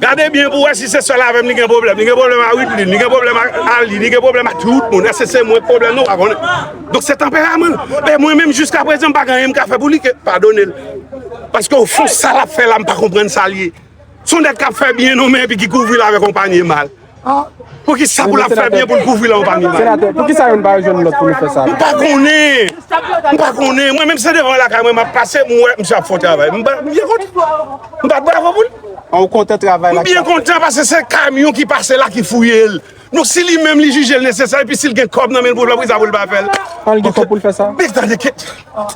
Gade byen pou wè si se sèl avèm li gen pwoblèm. Li gen pwoblèm a Widline, li gen pwoblèm ak Arly, li gen pwoblèm ak tout moun. Èske se mwen ki pwoblèm nou pa konnen. Donk se tanperaman l. Men mwen menm jiskaprezan m pa gen anyen m ka fè pou li ke padone l. Paske ofon sa l ap fè la m pa konprann sa l ye. S on nèg k ap fè byen non men epi ki kouvri l avèk on panye mal. Poukisa pou lap fè byen pou l kouvri la anpami bay. Senatè poukisa yo n pa yo jwenn lòt pou nou fè sa. M pa konnen. M pa konnen. Mwen menm se devan lakay mwen map pase m wè misye ap fon travay. M byen kontan. M bat bravo pou l. An ou kontan travay la. M byen kontan pase se kamyon ki pase la ki fouye l. Nou si li menm li jije l nesesè epi si l gen kòb nan men l pou l fè l poukisa pou l pa fè l. An l gen kòb pou l fè sa. Mèsi tande kèt.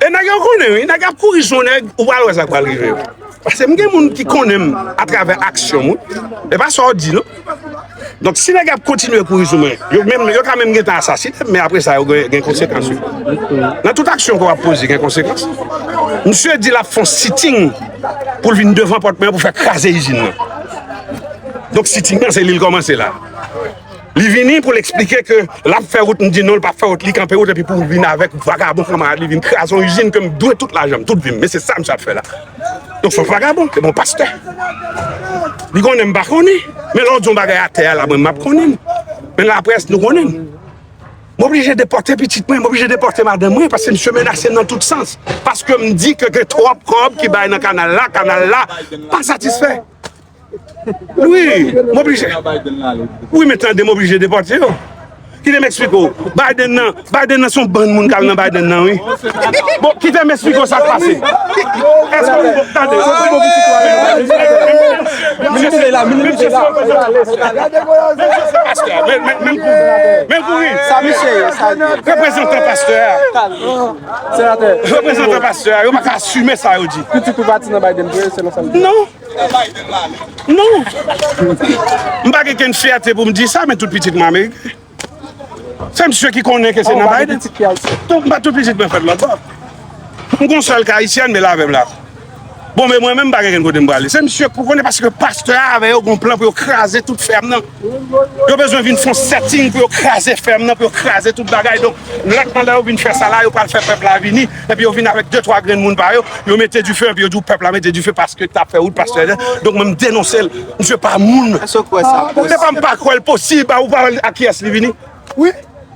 E nèg yo konnen wi, nèg ap kouri sou nèg, ou pral wè sa k pral rive yo. Pase m gen moun ki konnen m atravè aksyon m, e pa sa w di non. Donk si nèg ap kontinye kouri sou mwen, yo menm, yo ka menm gentan asasine m, men apre sa yo gen konsekans yo. Nan tout aksyon ke w ap poze gen konsekans. Msye di l ap fon sitting pou l vin devan pòt mwen pou fè kraze izin nan. Donk sitting nan se li l kòmanse la. Li vini pou l eksplike ke l ap fè wout, m di non l pap fè wout, li kanpe wout epi pou l vin avèk vagabon kanmarad li vin kraze yon izin ke m dwe tout lajan m, tout vi m, men se sa misye ap fè la. Donk se yon vagabon, se pa yon pastè. Li konnen m pa konnen, men lè w di yon bagay atè a la mwen m ap konnen l, men laprès nou konnen m. M oblije depòte pitit mwen, m oblije depòte madanm mwen paske misye menase m nan tout sans, paske m di ke gen twòp kòb ki bay nan kanal la, kanal la pa satisfè. Wi, m oblije. Wi men tande m oblije depòte yo. Kite m eksplike w. Biden nan, Biden nan se yon bann moun k al nan Biden nan wi. Bon, kite m eksplike w sa k pase. Èske ou bon, tande, ou bon pou sitwayen. Menm si la, menm si la. Menm pou ou. Menm pou ou. Sa misye ye, sa li. Reprezantan pastè a. Senatè. Reprezantan pastè a, yo pa ka asime sa yo di. Pitit ou pati nan Biden vre, selon sa li di. Non. Non. M pa gen kenn fyète pou m di sa, men tout pitit mwen Ameriken. Se msye ki konnen ke se nan Biden. Donk m pa tout pitit mwen fèt lòtbò. M gon sèl ki Ayisyen, anmèl avè m la. Bon, men mwen menm m pa gen kenn kote m prale. Se msye ki konnen paske pastè a avè yo gon plan pou yo kraze tout fèm nan. Yo bezwen vin fon setting pou yo kraze fèm nan, pou yo kraze tout bagay. Donk, lè k pandan yo vin fè sa la, yo pral fè pèp la vini. Epi yo vin avèk de twa grenn moun pa yo, yo mete dife epi yo di w pèp la mete dife paske ta fè wout, paske ta. Donk mwen m denonse l. Misye pa moun. Eske w kwè sa posib? Se pa m pa kwè l posib. Ou pa wè l ak kiyès li vini? Wi.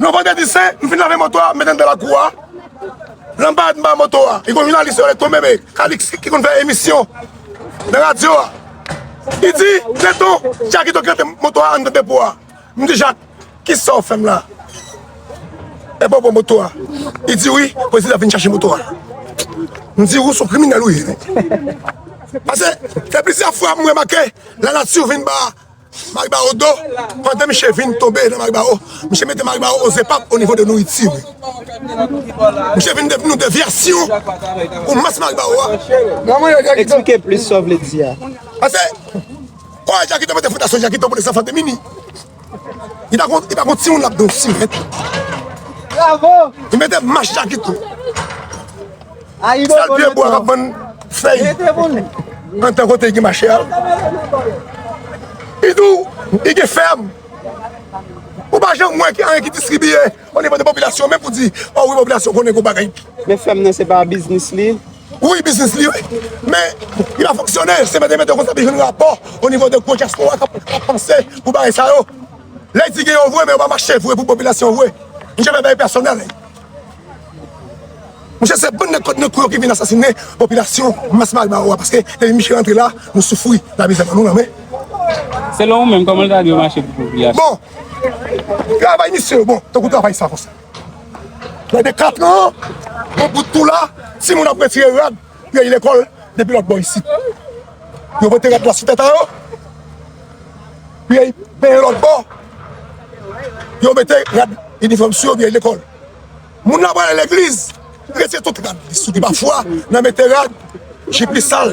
Yon vandredi sen, m fin lave moto a, m met anndan lakou a. Lanbad anba moto a, gen yon jounalis yo rele Tonbebe, Kalix, ki konn fè emisyon nan radyo a. Li di, Tè ton, Jakito ki rete moto a anndan depo a. M di Jak, ki sa w fè m la? Epa w pran moto a? Li di wi, prezidan ap vin chache moto a. M di, ou s on kriminèl ou ye. Pase, gen plizyè fwa m remake lanati vin ba. Maribaro do, pandan miche vin tonbe nan Maribaro, miche mete Maribaro o zepap o nivo de nouriti wi. Miche vin devni yon devyasyon pou mas Maribaro a. Eksplike plis sa w vle di a. Pase, kò a Jakito mete fondasyon Jakito pou desanfan de mimi. Li pa kon, li pa kon timoun l ap don simen. Li mete mas Jakito. Sa vye bwa kap vann fèy antan kote ki mache a. Idou, i gen fèm. Ou pa janm wè anyen ki distribiye o nivo de popilasyon menm pou di o wi popilasyon konnen kou bagay. Men fèm nan se pa biznis li? Wi biznis li wi. Men li pa fonksyone. Se mèt e mèt yo konsa pi jwenn rapò o nivo de gwo dyaspora kap panse pou bagay sa yo. Lè di gen yo vre men yo pa mache vre pou popilasyon vre. M janm fè bagay pèsonèl. Mesye se bann nèg kot nan kou yo ki vin asasine popilasyon mas malbaraw a paske depi misye rantre la nou soufri lamizè bannou nan men. Selon ou menm koman l ta dwe mache pou popilasyon. Bon travay misye yo bon tankou travay sa konsa. Lè de katran an bon bout tou la timoun ap retire rad. Peyi lekòl depi lòt bò isit. Yo vote rèd la sou tèt a yo. Peyi peyi lòt bò. Yo mete rad inifòm sou yo peyi lekòl. Moun la pral legliz. Retire tout rad li sou li pa fwa nan mete rad jip li sal.